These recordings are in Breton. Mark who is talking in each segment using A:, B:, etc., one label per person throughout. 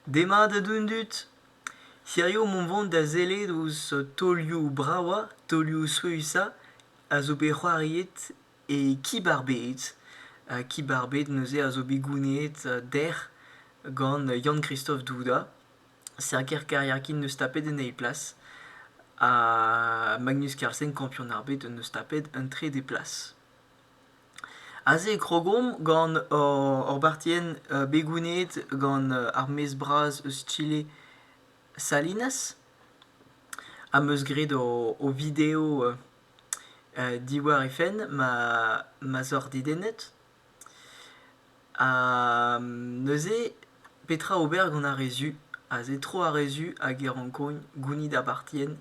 A: Demat da dont dit. Hirio mont vont da sellet ouzh taolioù bravañ, taolioù souezhañ a zo bet c'hoariet e Kib ar Bed. Kib ar Bed neuze a zo bet gounezet dec'h gant Yann-Kristof Douda, serker kariakin 'neus tapet en eil plas, ha Magnus Carlsen, kampionn ar bed, 'neus tapet un trede plas. Aze e krogomp gant hor bartienn begouneet gant ar maez bras eus Chile Salinas am eus graet o video diwar he fenn ma zor dedennet. Ha neuze petra ober gant ar re zu? Aze tro ar re zu hag e rankont gounit ar bartienn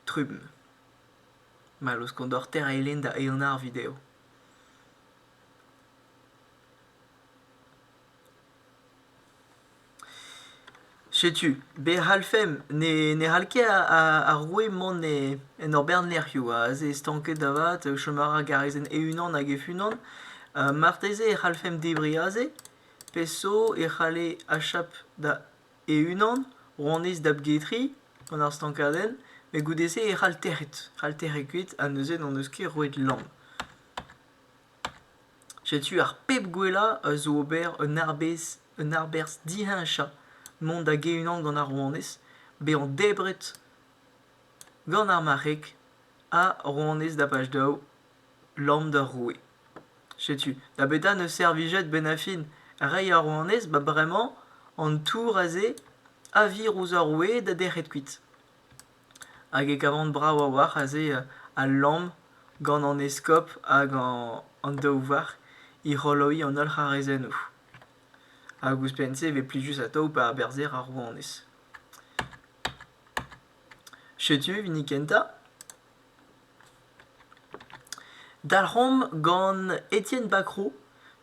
A: trumm. ma luskont oc'h tereiñ da eeun ar video. Setu, be a c'hallfemp ne c'hall ket ar roue mont en hor bern lec'hioù. Aze stanket avat, chom a ra garizenn e-unan hag hec'h-unan. Marteze e c'hallfemp debriñ aze? Peseurt e c'halle achap da... e-unan, rouanez da bGetri, gant ar stankadenn, met goude-se e c'hall tec'het. C'hall tec'het kuit, ha neuze n'en deus ket roet lamm. Setu ar pep gwellañ a zo ober un arbez, un arberzh diheñchañ mont da ge-unan gant ar rouanez, bezañ debret gant ar marc'heg ha rouanez da bach daou, lamm d'ar roue. Setu, da betra 'neus servijet benafin reiñ ar rouanez ba bremañ an tour aze a vir ouzh ar roue da dec'het kuit. Hag e kavan brav a-walc'h aze al lamm gant an eskob hag an daou varc'h é c'holoiñ an holl c'harrezennoù. Hag ouzhpenn-se e vez plijus atav pa aberzher ar rouanez. Setu hini kentañ. Dalc'homp gant Etienne Bacrot.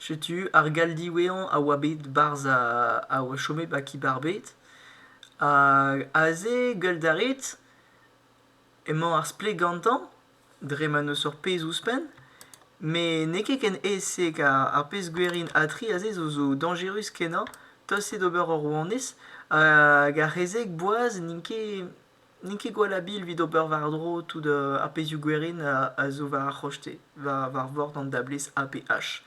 A: Setu ar gall diwezhañ a oa bet 'barzh a oa chomet 'ba Kibarbed. aze, gueult a rit, emañ ar splet gantañ dre ma n'eus ur pezh ouzhpenn. Met n'eo ket ken aes-se ar pezh gwerin ha tri aze zo dañjerus-kenañ. Tost eo d'ober ur rouanez hag ar c'hezeg boaz n'int ket N'in ket gwall habil evit ober war-dro tout ar pezhioù gwerin a zo war ar c'hoste, war vord an dablez APH.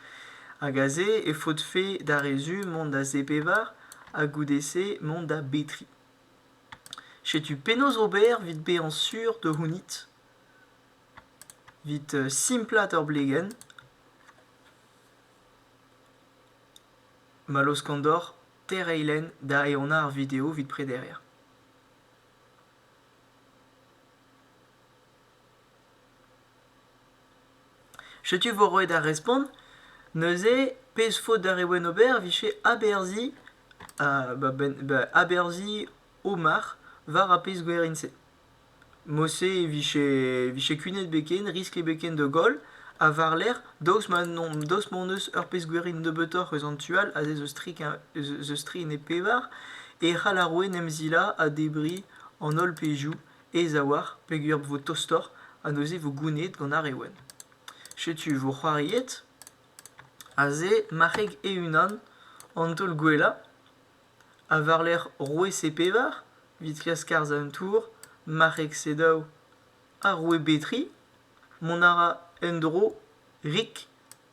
A: Hag aze e faotfe d'ar re-zu mont da zepevar ha goude-se mont da betri. Setu penaos ober evit bezañ sur da c'hounit, evit simplaat hor blegenn. Ma laoskan deoc'h tereiñ lenn da ehanañ ar video evit prederiañ. Setu vo roet ar respont. Neuze, pezh faot ar re wenn ober, vije aberzhiñ uh, ba benn, ba aberzhiñ Omar war ar pezh gwerin-se. Mose e vije, vije kunet beken, riskl beken da goll, ha war-lerc'h Daoust ma n'on daoust m'hon eus ur pezh-gwirioù nebeutoc'h eus an tu all ha se eus tri ene pevar e c'hall ar ouenn emzilañ ha debriñ an holl pezhioù aes a-walc'h peogwir vo tostoc'h ha neuze vo gounezet gant ar re wenn. Setu vo c'hoariet aze marc'heg e-unan an taol gwellañ ha war-lerc'h roue C-pevar evit klask arz an tour marc'heg C-daou ha roue B-tri Mont a ra en-dro Rick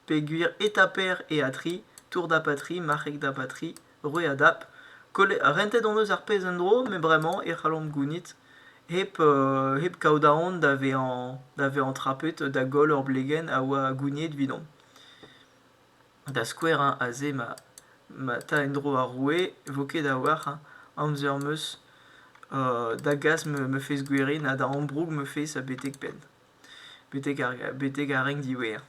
A: peogwir eta Per eo Atri, Tour da Patri, marc'heg da Batri, roue a dap. Kollet- rentet hon eus ar pezh en-dro, met bremañ e c'hallomp gounit hep, euh, hep kaout aon da vezañ da vezañ trapet da goll hor blegenn a oa gouniet evidomp. Da skouer hein aze ma ma 'ta en-dro ar roue e vo ket a-walc'h hein amzer 'm eus da gas ma fezh gwerin ha da ambroug ma fezh betek-penn betek ar betek ar renk diwezhañ.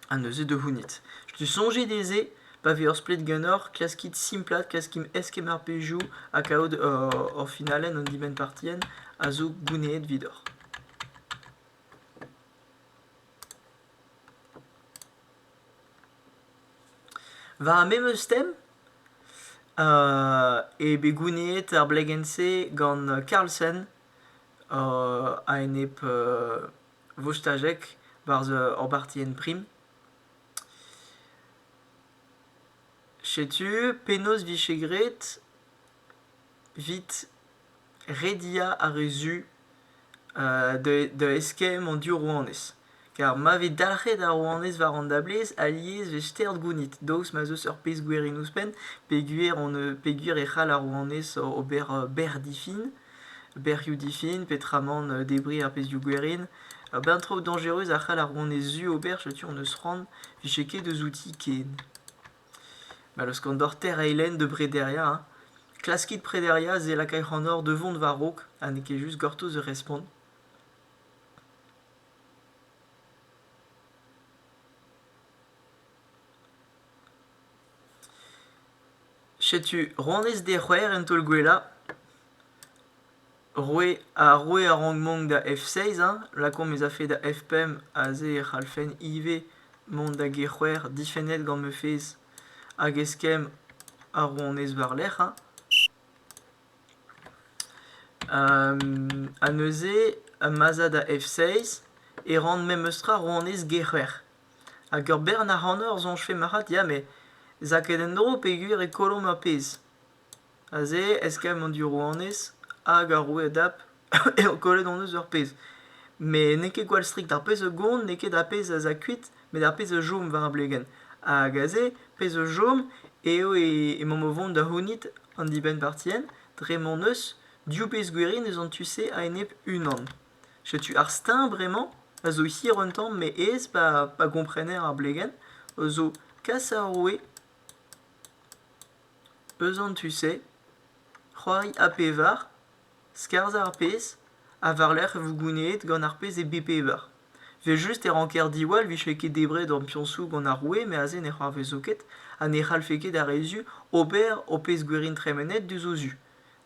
A: Ha neuze da c'hounit. Tu soñje dezhe pa vez ur splet ganeoc'h klaskit simplaat klaskimp eskemm ar pezhioù ha kaout hor finalenn an dibenn-partienn a zo gounezet evidoc'h. Va memeus tem eo bet gouniet ar blegenn-se gant Carlsen a-enep Vostajek barzh hor bartienn prim. Setu penaos 'vije graet 'vit rediañ ar re zu da eskemm an div rouanez. Ker ma vez dalc'het ar rouanez war an dablez alies 'vez stert gounid daoust ma 'z eus ur pezh gwer en ouzhpenn peogwir on peogwir e c'hall ar rouanez ober bec'h difin, bec'hioù difin peotramant debriñ ar pezhioù gwerin. Ur bern traoù dañjerus a c'hall ar rouanez zu ober setu hon eus c'hoant 'vije ket eus outi ken. ma leuskan deoc'h teir eilenn da brederiañ hein. klaskit prederiañ se lakay c'hanoc'h da vont war-raok ha n'eo ket just gortoz da respont. Setu honnezh dec'hwer en taol gwellañ. Roue ha roue a rank mont da F6 hein, lakaomp ez afe da F5 aze e c'hallfen ivez mont da G6 difennet gant ma fezh hag eskemm ar rouanez war-lerc'h hein. ha neuze ma'z a da F6 e ran memestra rouanez G6 hag ur bern ac'hanour soñjfe marc'had ya met 'z a ket en-dro peogwir e kollomp ar pezh. Aze, eskemm an div rouanez hag ar roue Adab eo kollet hon eus ur pezh. Met n'eo ket gwall strikt. Ar pezh a gont n'eo ket ar pezh a za kuit, met ar pezh a chom war ar blegenn. Hag aze, pezh a chom eo emaomp o vont da c'hounit an dibenn-partien dre ma n'eus div pezh gwirion eus an tu-se a-enep unan. Setu ar steuñv bremañ a zo hir un tamm met aes pa gomparener ar blegenn, a zo kas ar roue eus an tu-se, c'hoari ha pevar, skarzhañ ar pezh, ha war-lerc'h e vo gounezet gant ar pezh e bep eber. Evel-just e ranker diwall 'vije ket debret an piñsoù gant ar roue met aze ne c'hoarvezo ket ha ne c'hallfe ket ar re zu ober o pezh gwerin tremenet diouzh o zu.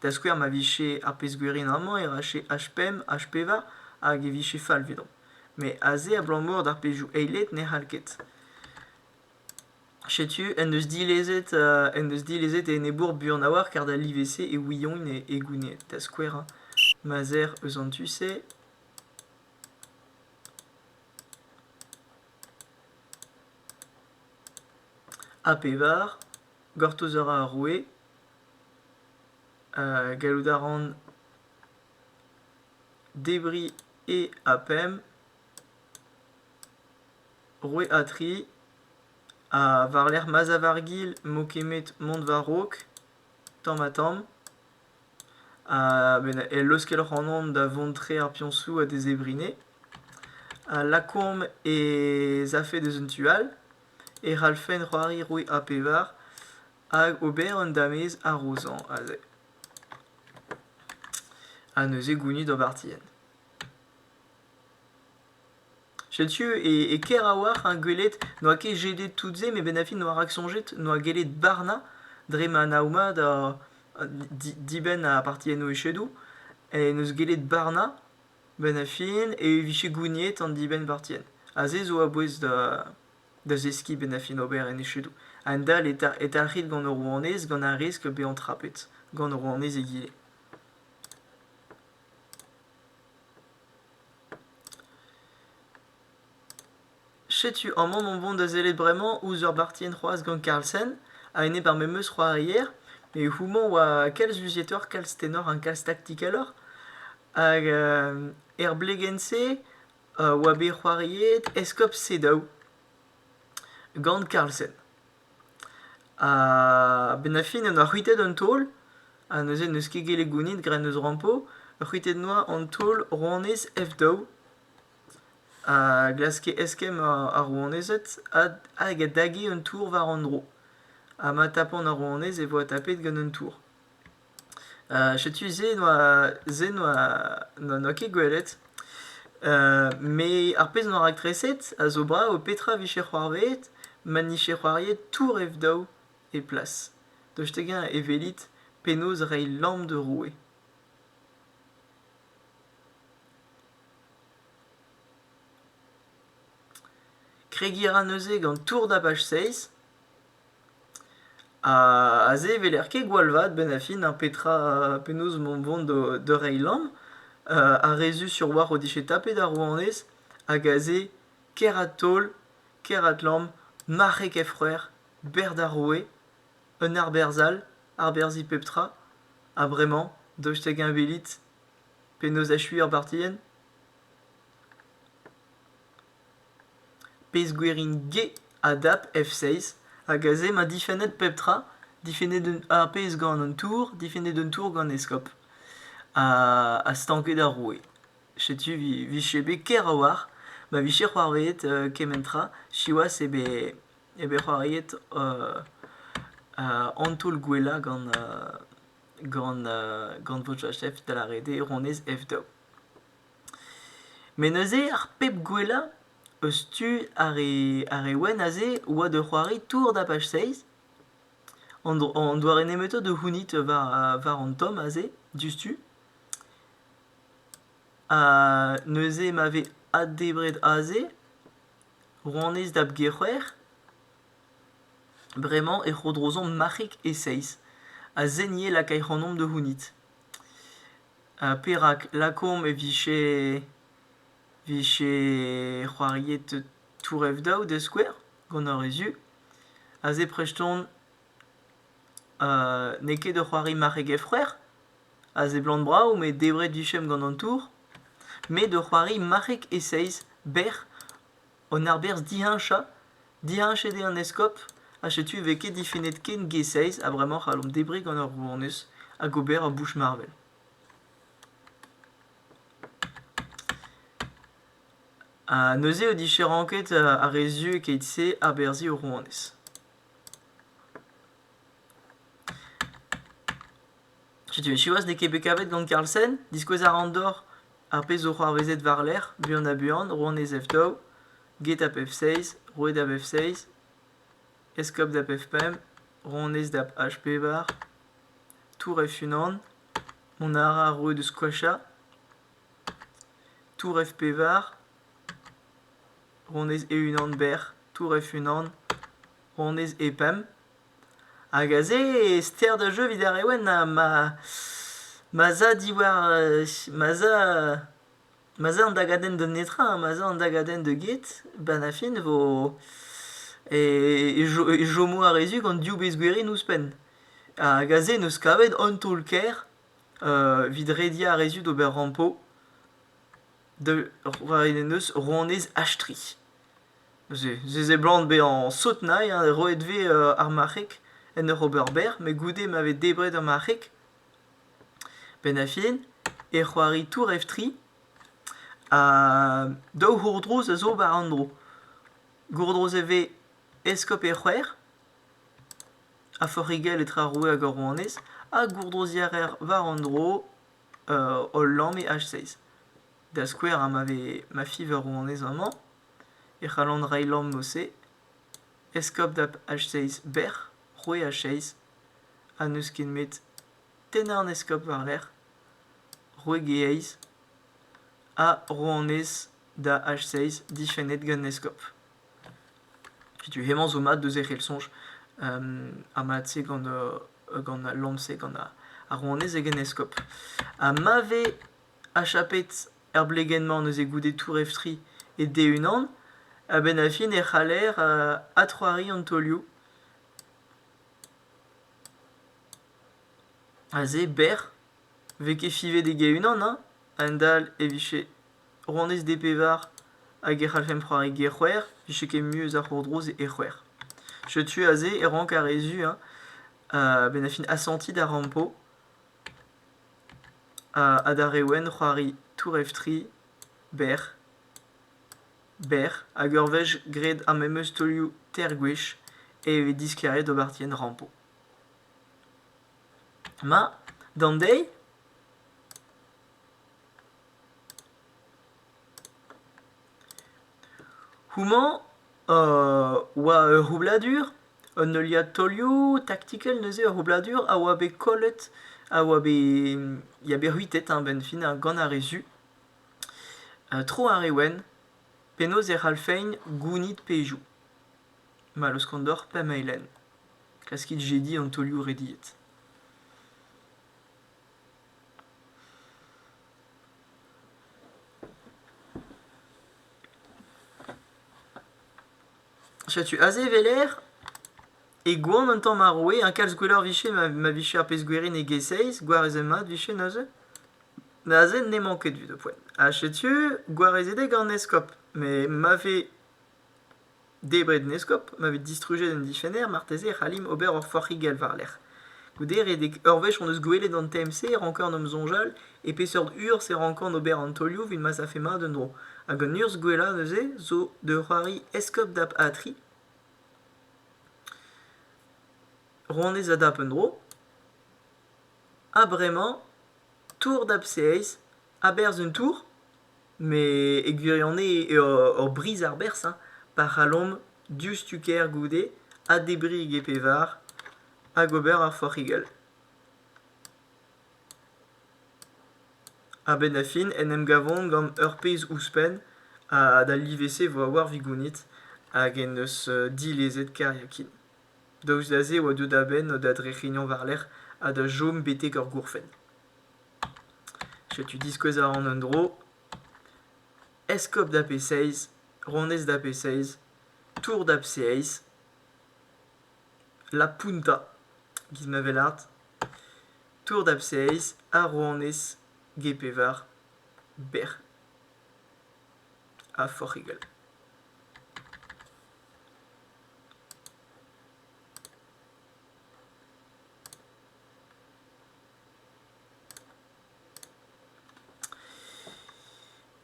A: Da skouer ma vije ar pezh gwerin amañ e rache H5, H5 hag e vije fall 'vidon. Met aze abalamour d'ar pezhioù eilet ne c'hall ket. Setu en deus dilezet en deus dilezet e enebour buan a-walc'h kar da live-se e Ouillon e e Gouned, da skouer hein ma 'z err eus an tu-se. Ha pevar, gortoz a ra ar roue. Euh, gallout a ran debriñ e ha pemp. Roue Atri, ha war-lerc'h ma'z a war gil m'eo kemmet mont war-raok tamm-ha-tamm. Ha ben e leuskel ac'hanon da vont tre ar piañsoù ha d'e zebrine. A lakaomp ez afe deus un tu all, e c'hallfen c'hoari roue A pevar hag ober un damez harozañ aze. Ha neuze gounit ur bartienn. Setu e ker a-walc'h hein gwelet n'oa ket jedet tout-se met bennafi n'oa rak soñjet n'oa gellet barnañ dre ma nav mat a- dibenn ar partiennoù echedoù en deus gellet barnañ benn ar fin e vije gouniet an dibenn-partien ha se zo a-bouez da zeskiñ bennafi ober en echedoù a-hend-all e talc'hit gant ur rouanez gant ar riskl bezañ trapet gant ur rouanez egile. Setu amañ mon bon da sellet bremañ ouzh ur bartienn c'hoazh gant Carlsen, a-enep ar memeus c'hoarier. Met houmañ oa kalz luzietoc'h, kalz tenoc'h ha kalz taktikaloc'h. Hag er blegenn-se oa bet c'hoariet eskob Sedaou gant Carlsen. A-benn ar fin en doa c'hwitet an taol ha neuze n'eus ket gellet gounit gra en deus rampo. Ur c'hwitet noa an taol rouanez F daou a glaske eskemm ar rouanezed hag a dage un tour war an dro. Ha ma tapont ar rouanez e voa tapet gant un tour. Setu se n'oa se n'oa n'oa ket gwelet. me ar pezh n'oa raktreset a zo brav petra vije c'hoarvezet ma n'ije c'hoariet tour ev-daou e plas. Daoust hag-eñ e welit penaos reiñ lamm d'ur roue. Kregiñ a ra neuze gant tour dabach seiz. Aze e weler ket gwall vat bennafi na petra penaos emañ vont da reiñ lamm. Ar re zu sur oar o dije tapet ar rouanez hag aze Keratol, Keratlamm, marc'heg he c'hwrac'h, berc'h d'ar roue, un arberzh all, arberzhiñ pep tra. Ha bremañ daoust hag-eñ welit penaos achuiñ ar bartienn? Pezh-gwir int get a dap F6 hag aze emañ difennet pep tra, difennet ar pezh gant an tour, difennet un tour gant eskob ha stanket ar roue. Setu 'vije bet ker a-walc'h ma vije c'hoarvezet kement tra, siwazh eo bet c'hoariet an taol gwellañ gant gant gant Votchachef da lâret eo honnezh F daou. Met neuze ar pep gwellañ eus tu ar re ar re wenn aze oa da c'hoari Tour Dapach Seiz. An dro- an doare nemetañ da c'hounit war war an tomm aze diouzhtu. Ha neuze ma vez addebret aze rouanez da b-Gec'hwec'h bremañ e trodrozomp marc'hig e Seiz ha se 'ni e lakay c'hanomp da c'hounit. Ha perak lakaomp e vije vije c'hoariet tour-ev-daou da skouer gant ar re zu. Aze prest on n'eo ket da c'hoari marc'heg e frec'h, a seblant brav met debret 'vichemp gant an tour, met da c'hoari marc'heg e seizh, bec'h. An arberzh diheñchañ, diheñchet eo an eskob ha setu e vez ket difennet ken G6 ha bremañ c'hallomp debriñ gant ur rouanez hag ober ur bouch marvel. Ha neuze eo diferañket ar re zu keit-se aberzhiñ ur rouanez. Setu siwazh n'eo ket bet kavet gant Carlsen. Diskouez a ran deoc'h ar pezh zo c'hoarvezet war-lerc'h, buan-ha-buan, Rouanez F-daou, get ap F-seiz, roueed ap F-seiz, eskob d'ap F-pemp, rouanez d'ap H-pevar, tour F-unan, mont a ra ar roue deus Kwasha, tour F-pevar, rouanez e-unan bec'h, tour F-unan, rouanez e-pemp. Hag aze e ster da jeu evit ar Rewenn ma ma 'z a diwar ma 'z a ma 'z a an dagadenn da netra, ma 'z a an dagadenn da get, benn ar fin e vo e chomo ar re zu gant div bezgwerin ouzhpenn. Hag aze en deus kavet un taol-kaer evit rediañ ar re zu d'ober rampo. da roet en deus rouanez Ashtri. Neuze, se seblant bezañ sot-nailh ha roet vez ar marc'heg en ur ober berr met goude ma vez debret ar marc'heg. Benn ar fin e c'hoari tour-eftri ha daou gourdrouz a zo war an dro. Gourdrouz e vez eskob e c'hwec'h ha forc'higell etre ar roue hag ar rouanez ha gourdrouziañ a reer war an dro hol lamme H6. Da skouer, ha ma vez ma fiñv a ro anezhañ amañ e c'hallan reiñ lamm eus-se. Eskob dap H6 bec'h, roue H6, ha n'eus ket met tennañ an eskob war-lerc'h, roue G-eizh, ha ro annez da H6 difennet gant eskob. Setu hemañ zo mat deus e c'hell soñj ha mat-se gant gant al lamm-se, gant ar rouanez hag en eskob. Ha ma vez achapet er blegenn-mañ neuze goude tour-eftri e-d-e-unan, a-benn ar fin e c'haller adc'hoari an taolioù. Aze, berr, 'vez ket fivet eg-e-unan, hein? A-hend-all e vije Rouanez D pevar hag e c'hallfemp c'hoari ger-c'hwec'h, 'vije ket mui eus ar c'hourdrouz e c'hwec'h. Setu aze e rank ar re zu hein benn ar fin asantiñ da rampo ha d'ar re wenn c'hoari tourèvtre berr, berr hag ur wech graet ar memes taolioù teir gwech e vez disklaeriet d'ober dienn rampo. Ma, d'an deiz? Houmañ oa ur roubladur, un heuliad taolioù taktikel neuze, ur roubladur a oa bet kollet, a oa bet ya bet c'hwitet a-benn-fin gant ar re zu. tro ar re wenn, penaos e c'hallfeint gounit pezhioù. Ma laoskont deoc'h pemp eilenn. Klaskit jediñ an taolioù rediet. Setu aze e weler e goan un tamm ar roue, hein, kalz gwelloc'h vicher ma, ma vije ar pezh gwerin e G6, gwarezet mat vicher neuze. Neuze n'emañ ket 'vit ho poent. Ha setu gwarezet eo gant Eskob, met ma vez Debret en eskob ma vez distrujet an dichenner marteze e c'hallimp ober ur forc'higell war-lerc'h. Goude redek ur wech hon eus gwelet an TMC e ranker en em soñjal e peseurt urzh e rankan ober an taolioù evit ma savfe mat un dro. Hag an urzh gwellañ neuze zo de c'hoari eskob dap Atri. Ronez a dap un dro. Ha bremañ tour dap Seeiz. A-berzh un tour. Met e gwirionez eo ur briz arberzh hein, pa c'hallomp diouzhtu kêr goude ha debriñ e pevar hag ober ur forc'higell. A-benn da fin en em gavont gant ur pezh ouzhpenn ha d'al live-se vo war Vigounit hag en deus dilezet Kariakin. Daoust da se e oa deuet a-benn da drec'hignañ war-lerc'h ha da chom betek ur gourfenn. Setu diskouez a ran un dro. Eskob da P6, ronez da P6, tour da P6, La Punta, giz ma vel art, tour da P6, ar rouanez Gepevar, bec'h ha forc'higel.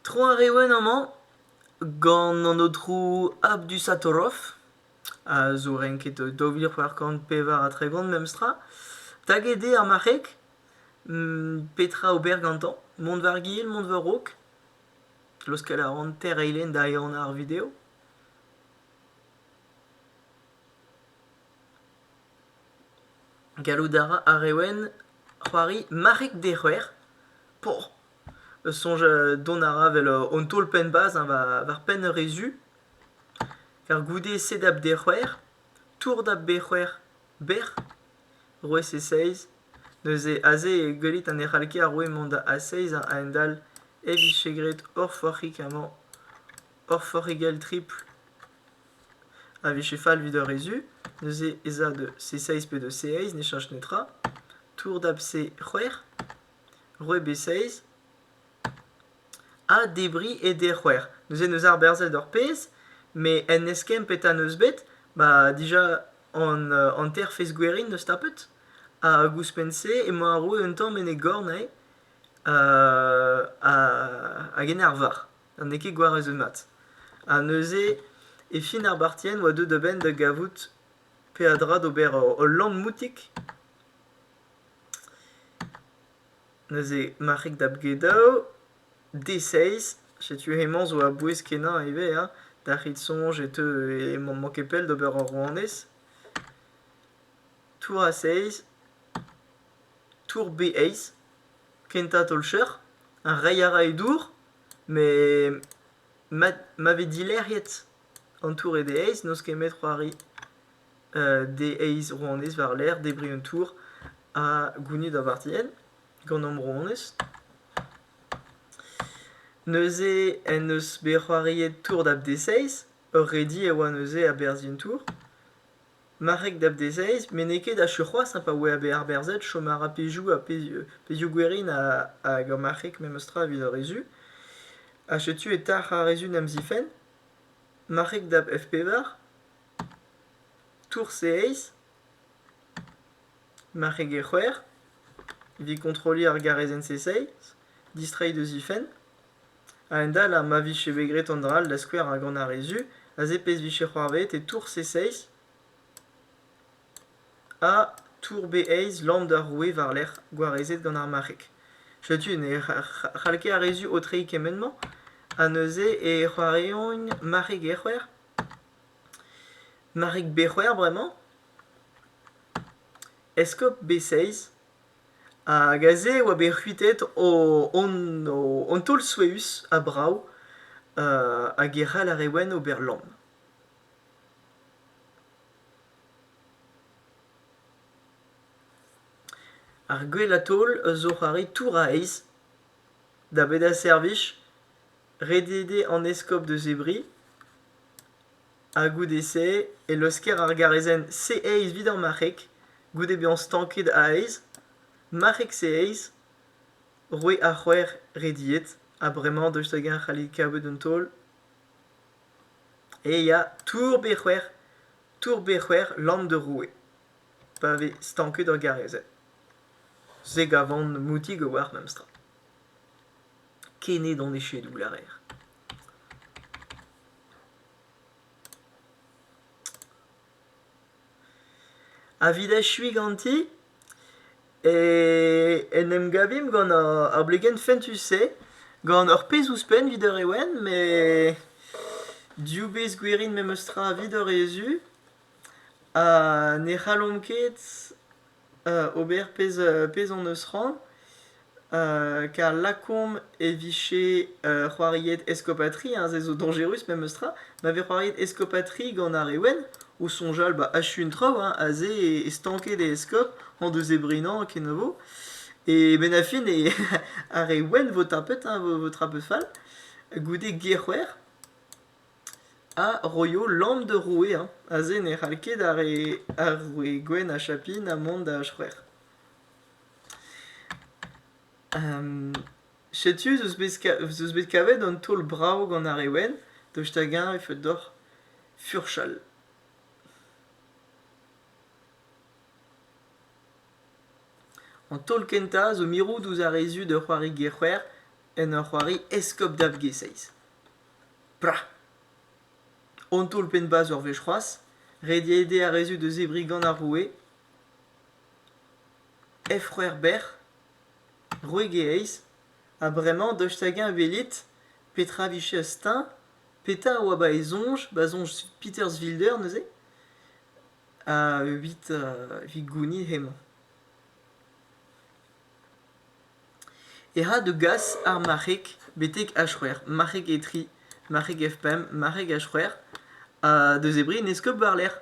A: Tro ar re wenn amañ gant an aotrou Abdusatoroff a zo renket daou vil c'hwec'h kant pevar ha tregont memestra taget eo ar marc'heg petra ober gantañ mont war-gil mont war-raok laoskel a ran teir eilenn da ehanañ ar video. Gallout a ra ar re wenn c'hoari marc'heg dec'hwer. Poh! soñj dont a ra 'vel hon taol-penn bazh hein, war penn ur re zu. Ker goude sedap dec'hwer, tourdap bec'hwer, bec'h, roez e seiz. Neuze aze e gwelit ha ne c'hall ket ar roue mont a-seiz ha a-hend-all e vije graet hor forc'hig amañ, hor forc'higell tripl. a vije fall evit ur rezu, neuze ez a de C6 pe de C6, ne cheñch netra. Tour dab C6, re B6, ha debriñ e D6. Neuze neus arberzhet ur pezh, met en eskemm petra neus bet, ba dija an hanter-fezh gwerin neus tapet. Ha ouzhpenn-se emañ arru un tamm en e gorn eo, hag en arvar. n'eo ket gwar ruzumat. Ha neuze, e fin ar bartienn, oa deuet a-benn da gavout peadra d'ober ul lamp-moutik. Neuze, marc'hig da bgedaou, D6, setu hemañ zo a-bouez kenañ ivez, hein. D'ar c'hit soñj e teu e m'am manke pell d'ober ur rouanez. Tour a 6, tour B eizh, kentañ taol-cheuc'h, ha reiñ a ra e dour, met ma vez dilec'hiet an tour e D eizh n'eus ket met c'hoari D eizh rouanez war-lerc'h debriñ an tour ha gounit ar vartienn gant hom rouanez. Neuze en deus bet c'hoariet tour da D seizh, ur redi e oa neuze a-berzh an tour. Marc'heg da v-dezhaez met n'eo ket achu c'hoazh pa oe bet arberzhet chom a ra pezhioù ha pezhioù gwerin hag ar marc'heg memestra evit ar re zu. Ha setu e talc'h ar re zu en em zifenn. Marc'heg da f-pevar. Tours e eizh. Marc'heg e c'hwec'h. Evit kontrolliñ ar garezenn-se seizh. Distreiñ da zifenn. A-hend-all, ar ma vije bet graet an dra-all da skouer ha gant ar re zu, aze pezh vije c'hoarvezet e tour C6 ha tour B6 lamp d'ar roue war-lerc'h, gwarezet gant ar marc'heg. Setu ne c'hall ket ar re zu aotreiñ kement-mañ. Ha neuze e c'hoariont marc'heg e-c'hwec'h. Marc'heg B-c'hwec'h bremañ. Eskob B6. Hag aze e oa bet c'hwitet hon taol souezhus ha brav hag e c'hall ar re wenn ober lamm. Ar gwellañ taol a zo c'hoari touraez da bedañ servij, redediñ an eskob da zebriñ. ha goude-se e leuzker ar garezenn C-aez evit ar marc'heg, goude bezañ stanket a-aez, marc'heg C-aez, roue ar c'hwec'h rediet, ha bremañ daoust hag-eñ a c'halle kaout un taol? E ya Tour B-c'hwec'h, Tour B-c'hwec'h Lamm da roue, pa vez stanket ur garezenn. Se gavan moutig a-walc'h memestra. Ken eo d'an echedoù, lârer. a vit echuiñ ganti e en em gavimp gant ar blegenn fentus-se gant ur pezh ouzhpenn evit ur ewen met div bezh gwirin memes tra evit ur rezu ha ne c'hallomp ket ober pezh hon eus c'hoant, kar lakaomp e vije c'hoariet eskopatrie, hein, se zo dañjerus memes tra, ma vez c'hoariet eskopatrie gant ar re wenn, o soñjal ba achu un traoù, hein, aze e stanket e eskob en deus e brinañ kenavo, e benn ar fin e ar re wenn vo tapet, hein, vo traoù fall, goude Gec'houer. Eñ a roio lamm d'ur roue hañ, aze ne c'hall ket ar re ar roue gwenn ha chapin ha mont da c'hwec'h. Setu ez eus bet ka- ez eus bet kavet un taol brav gant ar re wenn, daoust hag-eñ e faot deoc'h furchal? An taol kentañ zo mirout ouzh ar re zu d'ur c'hoari gec'hwer en ur c'hoari eskob da vGeseis. Pra! On taol-penn-bazh ur wech c'hoazh, ret eo dezhañ ar re-se da zebriñ gant ar roue. Efc'hwec'h bec'h, roeg e eizh, ha bremañ dost hag-eñ welit petra a vije steuñv, petra a oa 'ba e soñj, 'ba soñj Peterswilder neuze, evit gounit hemañ. ec'h a da gas ar marc'heg betek h-c'hwec'h marc'heg e tri marc'heg f-pemp marc'heg h-c'hwec'h ha da zebriñ en eskob war-lerc'h.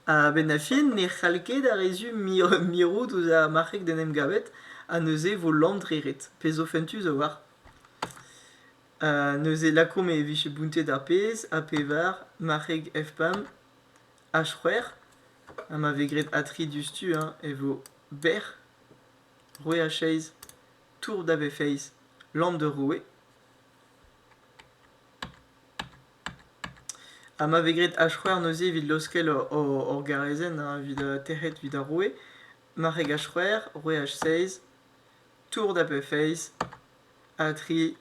A: A-benn ar fin ne c'hall ket ar re zu mirout ouzh ar marc'heg d'en em gavet ha neuze e vo lamm dre ret. Pezh zo fentus a-walc'h. neuze lakaomp e vije bountet ar pezh ha pevar marc'heg f-pemp H-c'hwec'h ha ma vez graet A-tri diouzhtu eñ e vo bec'h, roue a chaez, tour da v-feiz, land d'ur roue. Ha ma vez graet H-c'hwec'h neuze evit laoskel hor garezenn evit tec'het evit ar roue, marc'heg H-c'hwec'h, roue H-seiz, tour da v-feiz, A-tri,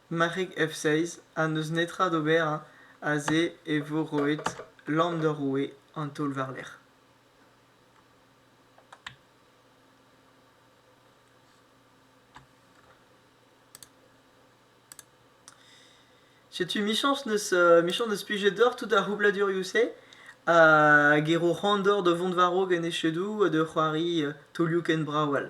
A: Marc'heg F-seiz ha n'eus netra d'ober aze e vo roet lamm d'ur roue an taol war-lerc'h. Setu michañs n'eus euh, michañs n'eus plijet deoc'h tout ar c'houbladurioù-se hag e ro randor da vont war-raok en echedoù ha da c'hoari taolioù ken brav all.